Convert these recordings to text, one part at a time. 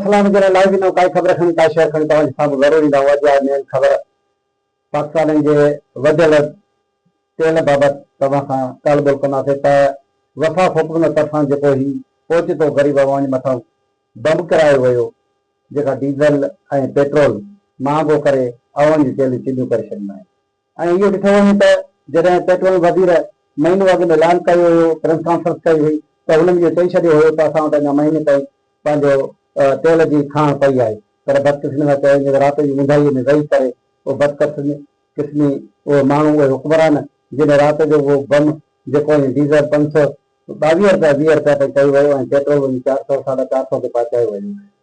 فلان وجهه لاء لائيو ڏنو ڪائي خبر کڻي ڪائي شيئر کڻي توهان جي سامهون ضرور ايندا هئا جا مين خبر پاڪستانين جي وڌيل تيل بابت توهان سان ڳالهه ٻولهه ڪنداسين ته وفا فوڪلنگ طرفان جيڪو هي اوچتو غريب عوام جي مٿان بمب ڪرايو ويو جيڪا ڊيزل ۽ پيٽرول مهانگو ڪري عوام جي چيلهيون چيلهيون ڪري ڇڏيون آهن ۽ اهو ڏٺو وڃي ته جڏهن پيٽروليم وزير مهينو اڳ ۾ اعلان ڪيو هيو، پريس ڪانفرنس ڪئي هئي ته هن اهو چئي ڇڏيو هيو ته اسان وٽ اڃا مهيني تائين پنهنجو تيل جي کاڻ پئي آهي پر بدقسمي سان چيو وڃي ته رات جي اونداهيء ۾ ويهي ڪري اهو بدقسمي قسمي اهي ماڻهو اهي حڪمران جنهن رات جو اهو بم جيڪو ۽ ڊيزل پنج سؤ ٻاويهه رپيا ويهه رپيا تائين ڪيو ويو ۽ پيٽرول وڃي چار سؤ ساڍا چار سؤ تي پهچايو ويو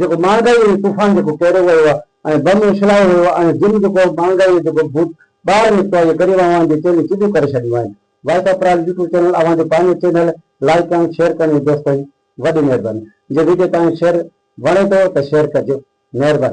جيڪو مهانگائي ۽ طوفان جيڪو ڪيريو ويو آهي ۽ بم اڇلايو ويو آهي ۽ جن جيڪو مهانگائي جو جيڪو ڀوت ٻاهر نڪتو آهي جيڪري اوهان اوهان جي چيلهيون سڌيون ڪري ڇڏيون آهن voice of Prague YouTube channel اوهان جو پنهنجو چينل لائيڪ ڪرڻ شيئر ڪرڻ جي دوستن وڏي مهرباني جي وڊيو توهان کي شيئر وڻي ٿو ته شيئر ڪجو مهرباني.